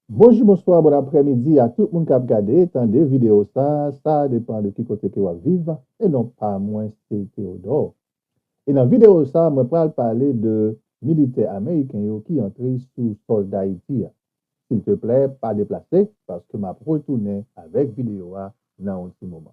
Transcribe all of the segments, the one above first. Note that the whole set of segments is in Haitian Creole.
Bonjou bonswa bon aprè midi a tout moun kap gade tande video sa sa depan de ki kote ke wap viv e non pa mwen se Theodore e nan video sa mwen pral pale de militè ameriken yo ki antre sou sol dayiti a silteplè pa deplase paske map retounen avèk video a nan yon ti moman.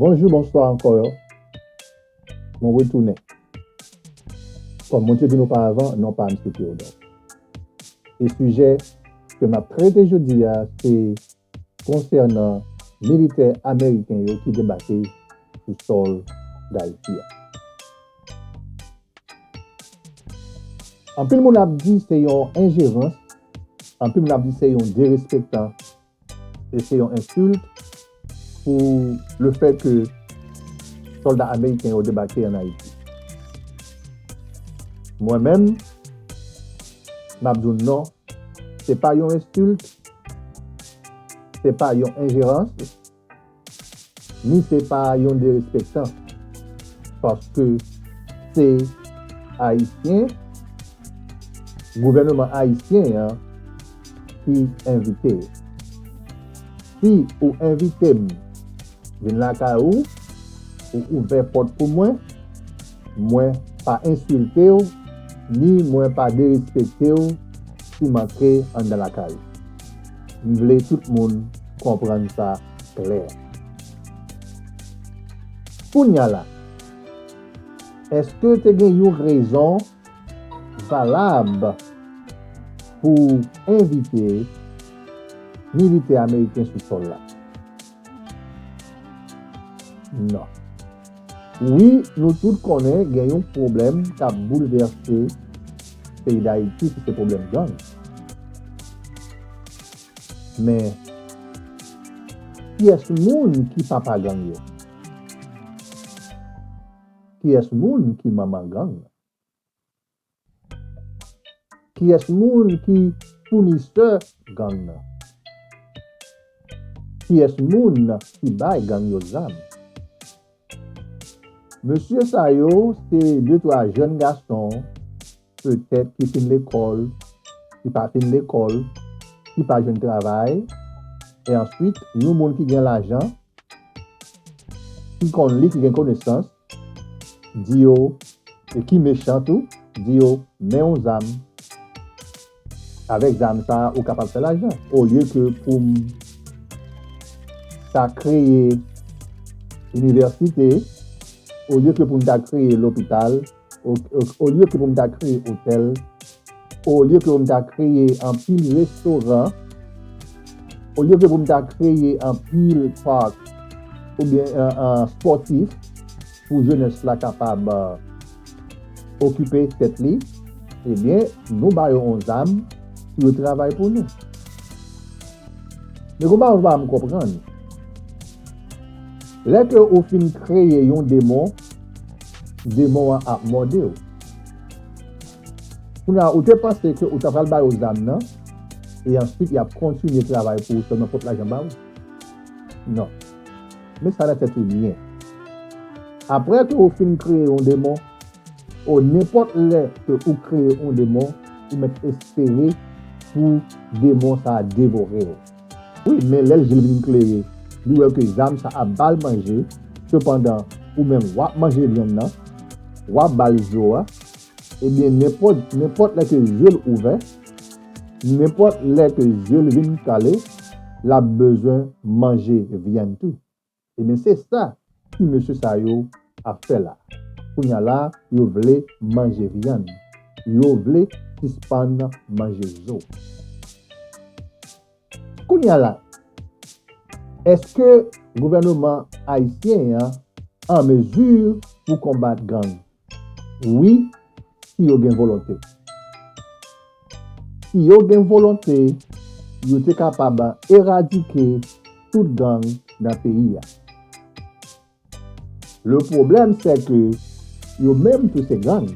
Bonjou, bonswa ankò yo. Mwen retounen. Kòm mwen te di nou paravan, non pa m se Theodore. E sijè ke m ap trete jodi a se konsènan militè ameriken yo ki debake sou sòl Dayiti a. Anpil moun ap di se yon enjerans, anpil moun ap di se yon derespektan e se yon ensilt pou le fè ke solda ameriken yo debake an Ayiti. Mwen menm, m ap di w non, se pa yon ensilt, se pa yon enjerans, Ni se pa yon derespektan paske se Ayisyen, gouvèneman Ayisyen an ki envite yo. Si ou envite m vin lakay ou, ou ouvè pòt pou mwen, mwen pa ensilte w ni mwen pa derespekte w si m antre anndan lakay ou. M vle tout moun konprann sa klè. Kounya la, èske te gen yon rezon valab pou envite militè ameriken sou sòl la? nan. Wi nou tout konnen gen yon pwoblèm kap boulvèse peyi dayiti ki se pwoblèm gang. Men kiyès moun ki papa gang yo? Kiyès moun ki manman gang? Kiyès moun ki founisè gang nan? Kiyès moun ki bay gang yo zam? Mesye sa yo se de twa jèn gason petèt ki fin lekòl, ki pa fin lekòl, ki pa jwenn travay e answit yon moun ki gen lajan, ki konn li, ki gen konesans Di yo, e ki mechan tou, di yo, men yon zam, avèk zam sa a ou kapab fè lajan. Olye ke pou m ta kreye inivèsite, olye ke pou m ta kreye lopital, olye ke pou m ta kreye otèl, Olye ke pou m ta kreye anpil restoran, olye ke pou m ta kreye anpil park oubyen sportif pou jenès la kapab okipe tèt li, ebyen nou ba yo yon zam pou yo travay pou nou. Men konpa ou pa janm konprann. Lè ke ou fin kreye yon demon, demon an ap mòde ou. Kounye a ou te panse ke ou ta pral ba yo zam nan e answit yap kontinye travay pou ou selman pot lajan ba ou? Non. Met sa nan tèt ou byen. Aprè ke ou fin kreye yon demon, o nenpot lè ke ou kreye yon demon, ou met espere pou demon sa a devore ou. Wi, men lè je l vin klere, li wè ke zam sa ap ba l manje, sepandan ou menm wap manje vyann nan, wap ba l zo a, Ebyen nenpòt nenpòt lè ke je l ouvè, nenpòt lè ke je l vin kale, l ap bezwen manje vyann tou. Ebyen se sa ti mesye sa yo ap fè la. Kounye a la yo vle manje vyann. Yo vle sispann manje zo. Kounye a la, èske gouvèneman ayisyen an an mezi pou konbat gang? Wi, si yo gen volonte. Si yo gen volonte, yo te kapab eradike tout gang nan peyi a. Le pwoblèm sè ke yo menm tou se gang.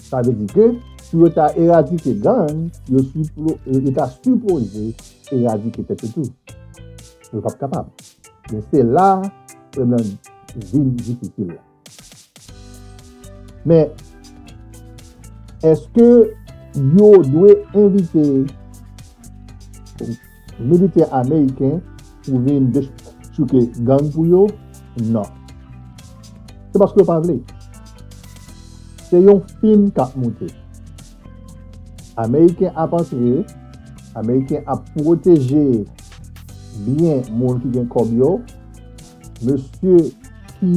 Sa vle di ke pou yo ta eradike gang, yo ta sipoze eradike tèt yo tou. Yo pap kapab. Men se la e nan vil difisil la. Men, eske yo dwe envite militè ameriken pou vin dechouke gang pou yo? Non. Se paske yo pa vle. Se yon fim k ap moute. Ameriken ap antre, Ameriken ap pwoteje byen moun ki gen kòb yo, Mesye ki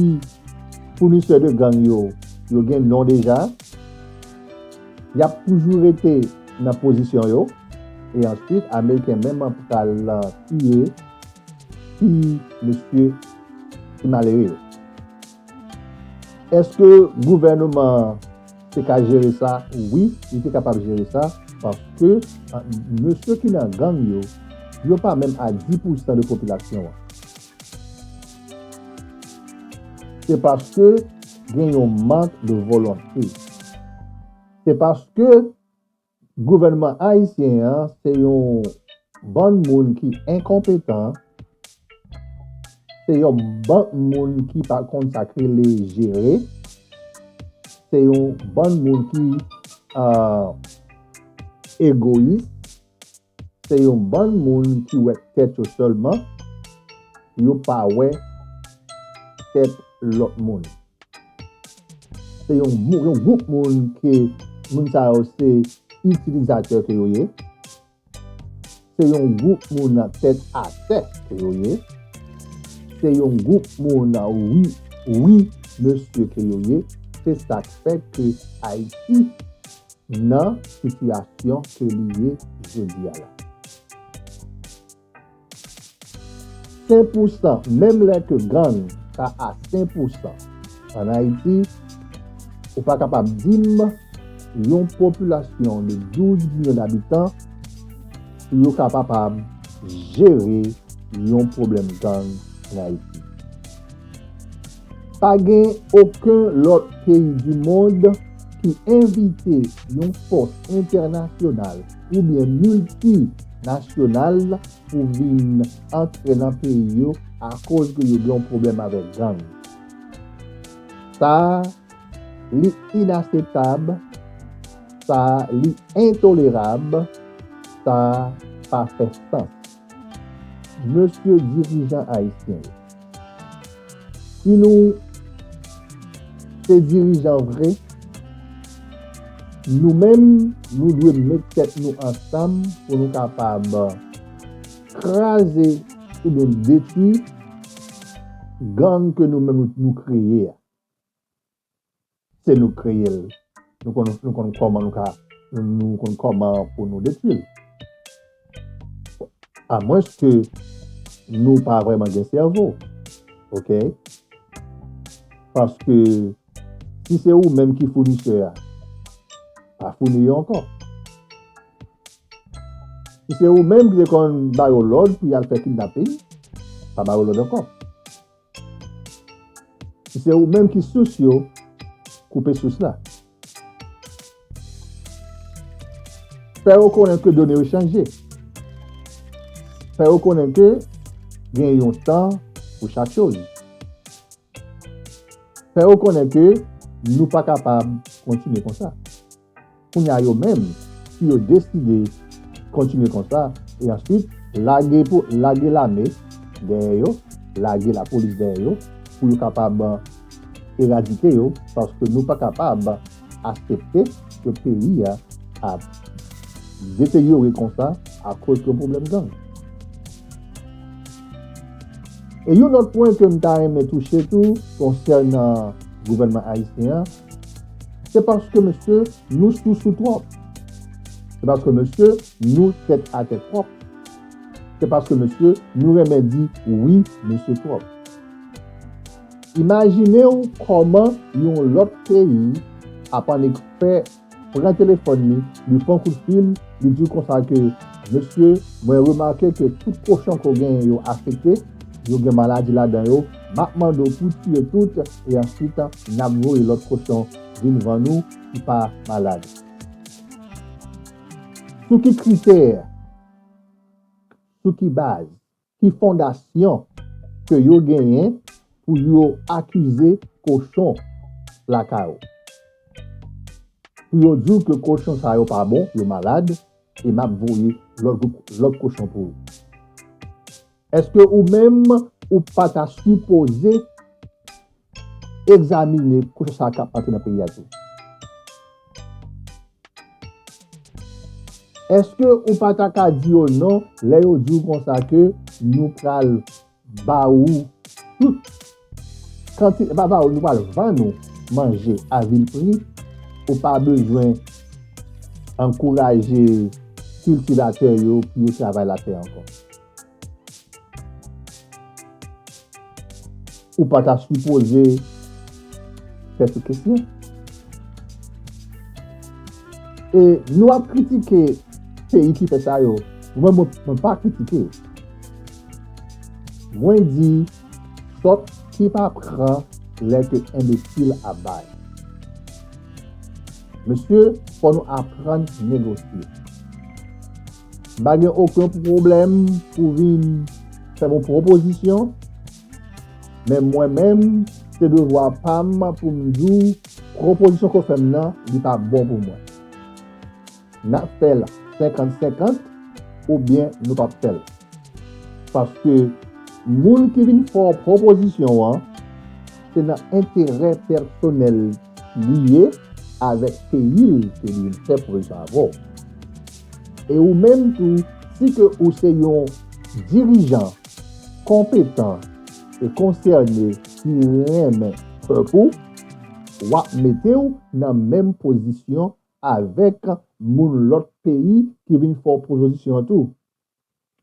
founisè de gang yo, yo gen non deja. Y ap toujou rete nan pozisyon yo. E answit ameriken menm an pral tiye ti mesye ki malere yo. Eske gouvèneman an te ka jere sa? Wi, li te kapab jere sa, paske mesye ki nan gang yo, yo pa menm a 10 pou san de popilasyon an. Se paske gen yon mank de volonte. Se paske Gouvènman ayisyen an se yon bann moun ki enkonpetan, se yon bann moun ki pa konn sa k rele jere, se yon bann moun ki egoyis. Se yon bann moun ki wè tèt yo sèlman, yo pa wè tèt lòt moun. Se yon gwoup moun ke moun sa yo se itilizatè ke yo ye. Se yon gwoup moun tèt atè ke yo ye. Se yon gwoup moun wi, wi mesye ke yo ye. Se sak fè ke Ayiti nan sitiyasyon ke li ye jodi a la. Sen pou san, menm lè ke gang ta a sen pou san an Ayiti, ou pa kapab di m yon popilasyon de 12 milyon dabitan pou yo ka papab jere yon pwoblèm gang an Ayiti. Pa gen oken lòt peyi di mond ki envite yon fòs entènasyonal oubyen milti nasyonal pou vin antre nan peyi yo akoz ke yo gen yon pwoblèm avèk gang. Sa a li inaseptab, sa a li entolerab, sa a pa fè sans. Mesye dirijan ayisyen yo. Si nou se dirijan vre, nou menm nou dwe met tèt nou ansanm pou nou kapab kraze oubyen detwi gang ke nou menm nou kreye a. se nou k kreye l, nou konn nou konn kòman nou ka nou konn kòman pou nou detwi l. A mwens ke nou pa vreman gen sèvo. Ok? Paske si se ou menm ki founisè a, pa founi yo ankò. Si se ou menm ki te konn ba yo lòd pou y al fè kidnaping, pa ba yo lòd ankò. Si se ou menm ki sous yo, koupe sous la. Fè yo konnen ke done yo chanje. Fè yo konnen ke gen yon tan pou chak choz. Fè yo konnen ke nou pa kapab kontinye konsa. Kounye a yo menm si yo deside kontinye konsa e answit lage pou lage lame dèyè yo, lage lapolis dèyè yo pou yo kapab eradike yo paske nou pa kapab asepte ke peyi a ap deteryore konsa akoz yon pwoblèm gang. E yon lòt pwen ke m ta renmen touche tou konsènan gouvènman ayisyen an, Se paske mesye nou sousou twòp. Se paske mesye nou tèt atè twòp. Se paske mesye nou renmen di wi mesye twòp. Imajine w kòman yon lòt peyi ap annik fè pran telefòn li, li pran kout fil, li di w konsa ke, Mesye, mwen remake ke tout kochon ke w genyen yo afekte, yo gen maladi ladan yo, Map mande w pou tiye tout e answit nap voye lot kochon vin vann ou ki pa malad. Sou ki kritè, sou ki baz, ki fondasyon ke yo genyen pou yo akize kochon lakay ou? Pou yo di w ke kochon sa yo pa bon, yo malad e map voye lot kochon pou ou? Eske ou menm ou pa ta sipoze egzamine koze sa kap antre nan peyi a tou? Eske ou pa ta ka di yo non lè yo di ou konsa ke nou pral ba ou tout kantite, pa ba ou nou pral vann ou manje a vil pri, ou pa bezwen ankouraje kiltivatè yo pou yo travay latè ankò? Ou pa ta sipoze tèt ou kesyon. E nou ap kritike peyi ki fè sa yo. Mwen mwen pa kritike. Mwen di sòt ki pa pran lè ke enbesil ap bay. Mesye, fò nou aprann negosye. M pa gen oken pwoblèm pou vin fè m yon pwopozisyon, men mwen menm, se devwa pa m pou m di w pwopozisyon ke w fè m nan, li pa bon pou mwen. N ap fè l senkant senkant oubyen nou p ap fè l. Paske moun ki vin fè w pwopozisyon an, se nan enterè pèsonèl li ye avèk peyi l ke li vin fè pwopozisyon avè w. E ou menm tou si ke ou se yon dirijan konpetan e konsène ki renmen pèp ou, w ap mete w nan menm pozisyon avèk moun lòt peyi ki vin fè w pwopozisyon an tou.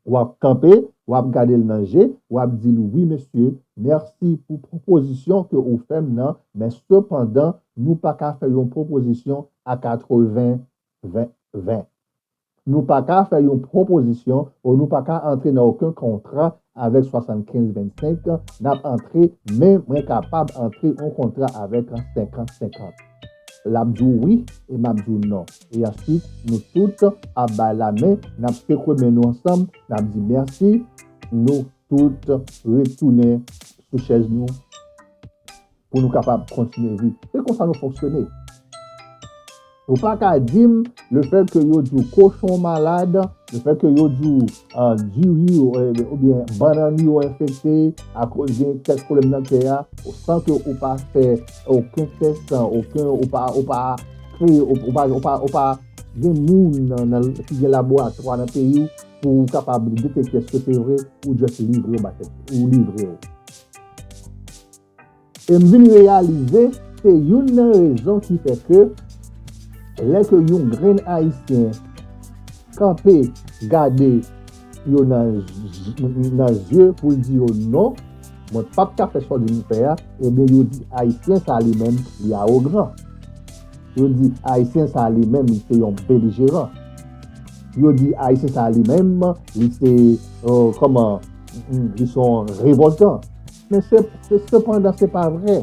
W ap kanpe, w ap gade l nan je, w ap di l wi mesye, mèsi pou pwopozisyon ke ou fè m nan, men sepandan nou pa ka fè yon pwopozisyon a 80 20, 20. Nou pa ka fè yon pwopozisyon o nou pa ka antre nan oken kontra avèk 75, 25, nap antre men mwen kapab antre yon kontra avèk 50, 50. Lap di w wi e map di w non e answit nou tout ap bay lamen nap sekwe men nou ansanm nap di mèsi nou tout retounen sou chèz nou. pou nou kapab kontinye viv. Se konsa nou fonksyone. Ou pa ka di m, le fèt ke yo di w kochon w malad, le fèt ke yo di w diri w oubyen bannann w yo enfekte akoz gen kèk pwoblèm nan kè a, san ke ou pa fè oken tès, san oken, ou pa, ou pa kreye, ou pa, ou pa, ou pa gen moun nan, ki gen laboratwa nan peyi w pou ou kapab detekte eske se vre, ou just livre w ba tèt, ou livre w. E m vin reyalize se youn nan rezon ki fè ke lè ke yon grenn Ayisyen kanpe gade yo nan zye pou l di yo non, mwen pap ka fè sa w di m fè a, ebyen yo di Ayisyen sa li menm li awogran. Yo di Ayisyen sa li menm li se yon belijeran. Yo di Ayisyen sa li menm li se, kòman, li se yon revòltan. Men sepandan se pa vre.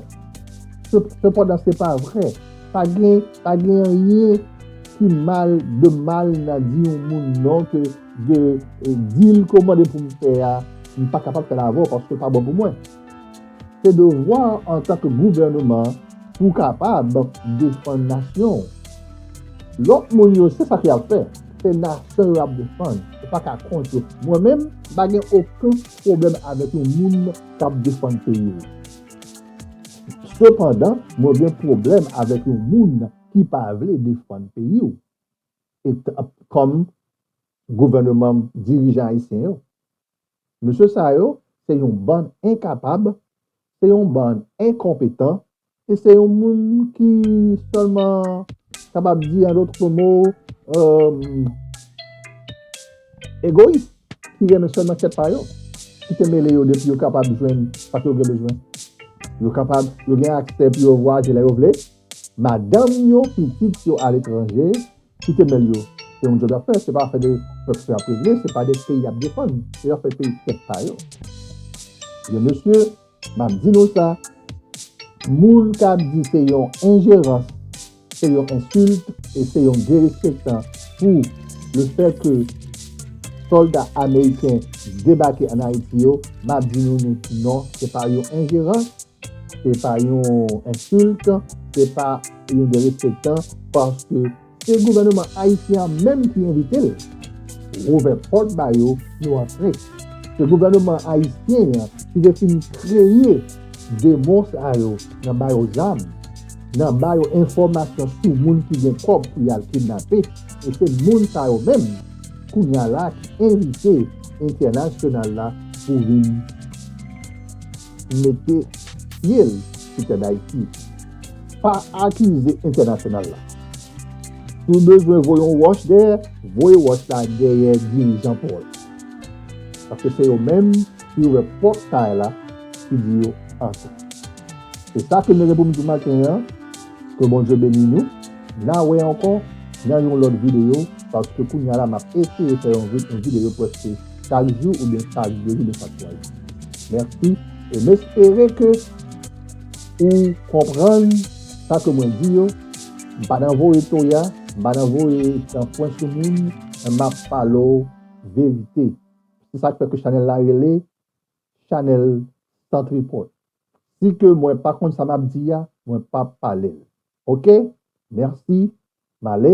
Sepandan se pa vre. Pa gen anyen ki mal de mal nan di yon moun non ke de di l ke w mande pou m fè a, m pa kapab fè l avè w paske w pa bon pou mwen. Se devwa w antan ke gouvèneman pou w kapab defann nasyon w. Lòt moun yo se sa ke y ap fè. Se nasyon yo ap defann. Ou pa ka kont yo. Mwen menm m pa gen oken pwoblèm avèk yon moun kap defann peyi l. Sepandan, mwen gen pwoblèm avèk yon moun ki pa vle defann peyi w. E kòm gouvèneman dirijan ayisyen yo. Mesye sa yo se yon bann enkapab, se yon bann enkonpetan, e se yon moun ki sèlman kapab di an lòt kòm mo egoyis, ki renmen sèlman tèt pa yo, ki te mele yo depi yo kapab jwenn sa ke yo gen bezwen. Yo kapab, yo gen aksè pou yo vwayaje lè yo vle, madanm yo, pitit yo a letranje, ki te mele yo. Se yon djòb y ap fè, se pa afè de pèp y ap regle, se pa de peyi y ap defann, se yon afè peyi tèt pa yo. Ebyen mesye! Map di nou sa, moun kap di se yon enjerans, se yon ensilt e se yon derespektan pou le fè ke solda ameriken debake an Ayiti yo, map di nou nou tou non, se pa yon enjerans, se pa yon ensilt, se pa yon derespektan, paske. Se gouvèneman ayisyen an menm ki envite l. W ouvè pòt ba yo, yo antre. Se gouvèneman ayisyen an ki te fin kreye demon sa yo nan ba yo zam, nan ba yo enfòmasyon sou moun ki gen kòb pou y al kidnape e se moun sa yo menm kounye a la ki envite entènasyonal la pou vin mete pye l sou tè Dayiti pa akize entènasyonal la. Si w bezwen voye yon wòch dèyè, voye wòch la dèyè dirijan paw yo. Paske se yo menm ki ouvè pòt kay la ki di yo antre. Se sa ke m leve pou m di maten an, ke Bondye beni nou, na wè ankò nan yon lòt videyo paske kounya la map eseye fè yon videyo pwèske chak jou ou gen chak de jou gen chak swa jou merci e m espere ke ou konprann sa ke mwen di yo m pa nan voye toya m pa nan voye san pwen sou moun men m ap pale w verite se sak fè ke chanèl la rele chanèl san tripòt si ke mwen pa konn sa m ap di a mwen p ap pale l ok merci m ale.